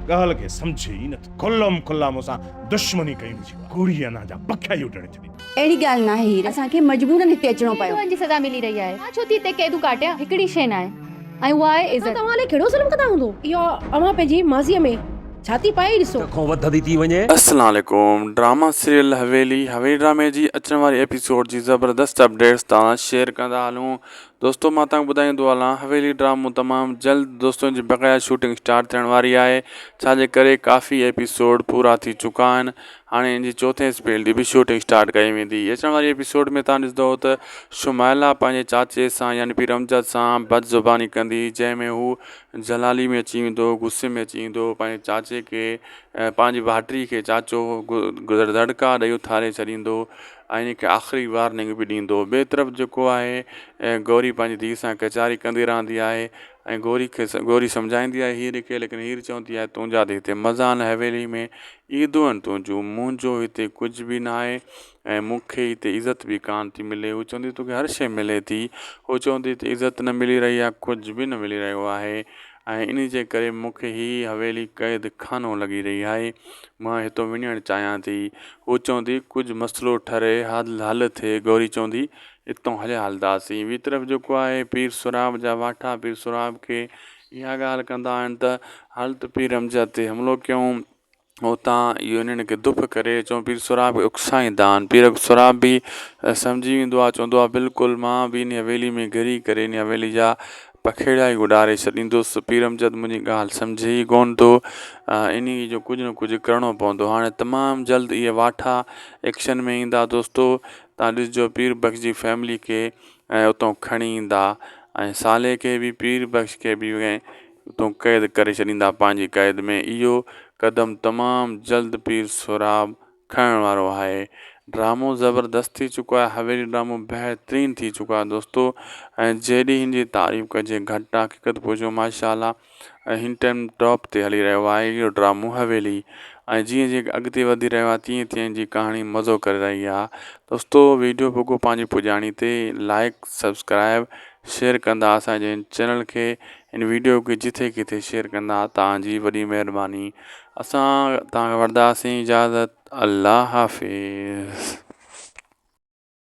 ڳالهه کي سمجهي ئي نه ٿو. کلم کلا مون سان دشمني ڪئي هجي ها. ڪوڙي انا جا پکيا ئي اڊڻي ڇڏي ها. اهڙي ڳالهه ناهي هير. اسان کي مجبورن هتي اچڻو پيو. ڪيترن جي سزا ملي رهي آهي. مان ڇو ٿي هتي قيدون ڪاٽيان. هڪڙي شيء ناهي ۽ اها آهي عزت. توهان علي ڪهڙو ظلم ڪدا هوندو. اها اوهان پنهنجي ماضيء ۾ ڇا ٿي پائي ڏسو. ڪنهن کان وڌندي ٿي وڃي. السلام عليڪم ڊراما سيريل حويلي حويلي ڊرامي جي اچڻ واري ايپيسوڊ جي زبردست اپڊيٽس توهان سان شيئر ڪندا هلون دوستو مان تان ٻڌائيندو هلان حويلي ڊرامو تمام جلد دوستو جي بقايا شوٽنگ اسٽارٽ ٿيڻ واري آهي ڇا جي ڪري ڪافي ايپيسوڊ پورا ٿي چڪا آهن هاڻي ان جي چوٿين اسپيل جي به شوٽنگ اسٽارٽ ڪئي ويندي اچڻ واري ايپيسوڊ ۾ تان ڏسندو ته شمائلا پنهنجي چاچي سان يعني پير امجد سان بد زباني ڪندي جنهن ۾ هو جلالي ۾ اچي ويندو غصي ۾ اچي ويندو پنهنجي چاچي کي پنهنجي ڀائٽي کي چاچو گذر دڙڪا ڏئي اٿاري ڇڏيندو ۽ ان کي آخري وارننگ به ڏيندو. ٻئي طرف جيڪو آهي گوري پنهنجي ڌيء سان ڪچهري ڪندي رهندي آهي ۽ گوري کي گوري سمجهائيندي آهي هير کي ليڪن هير چوندي آهي تنهنجا ته هتي مزا آهن حويلي ۾ عيدون آهن تنهنجون منهنجو هتي ڪجهه به نه آهي ۽ مون کي هتي عزت به ڪانه ٿي ملي هو چوندي توکي هر شيء ملي ٿي هو چوندي هتي عزت نه ملي رهي آهي ڪجهه به نه ملي رهيو آهي ۽ انهي جي ڪري مون کي هي حويلي قيد خانو لڳي رهي آهي. مان هتو وڃڻ چاهيان ٿي. هوء چوندي، ڪجهه مسئلو ٺري، حل ٿئي. گوري چوندي، اتون هليا هلنداسين. ٻي طرف جيڪو آهي پير سهراب جا واٺا پير سهراب کي اها ڳالهه ڪندا آهن ته، هل ته پير حمزه تي حملو ڪيون. اوتان اهو انهن کي دڦ ڪري چون پير سهراب کي اڪسائيندا آهن پير سهراب به سمجهي ويندو آهي چوندو آهي بلڪل مان به انهي حويلي ۾ گهري ڪري انهي حويلي جا پکيڙا ئي اڏاري ڇڏيندس پير امجد منهنجي ڳالهه سمجهي ئي ڪونه ٿو انهي جو ڪجهه نه ڪجهه ڪرڻو پوندو هاڻي تمام جلد اهي واٺا ايڪشن ۾ ايندا دوستو تان ڏسجو پير بخش جي فيملي کي اتو کڻي ايندا ۽ صالح کي به پير بخش کي به اتون قيد ڪري ڇڏيندا پنهنجي قيد ۾ اهو قدم تمام جلد پير سهراب کڻڻ وارو آهي ڊرامو زبردست ٿي چڪو آهي حويلي ڊرامو بهترين ٿي چڪو آهي دوستو ۽ جيڏي هن جي تعريف ڪجي گهٽ آهي حقيقت پوچو ماشاءالله ۽ هن ٽائيم ٽاپ تي هلي رهيو آهي اهو ڊرامو حويلي ۽ جيئن جيئن اڳتي وڌي رهيو آهي تيئن تيئن جي ڪهاڻي مزو ڪري رهي آهي دوستو ويڊيو پوکو پنهنجي پڄاڻي تي لائيڪ سبسڪرائيب شيئر ڪندا اسان جي هن چينل کي هن ويڊيو کي جٿي ڪٿي شيئر ڪندا تان جي وڏي مهرباني اسان تان وٺداسين اجازت الله حافظ.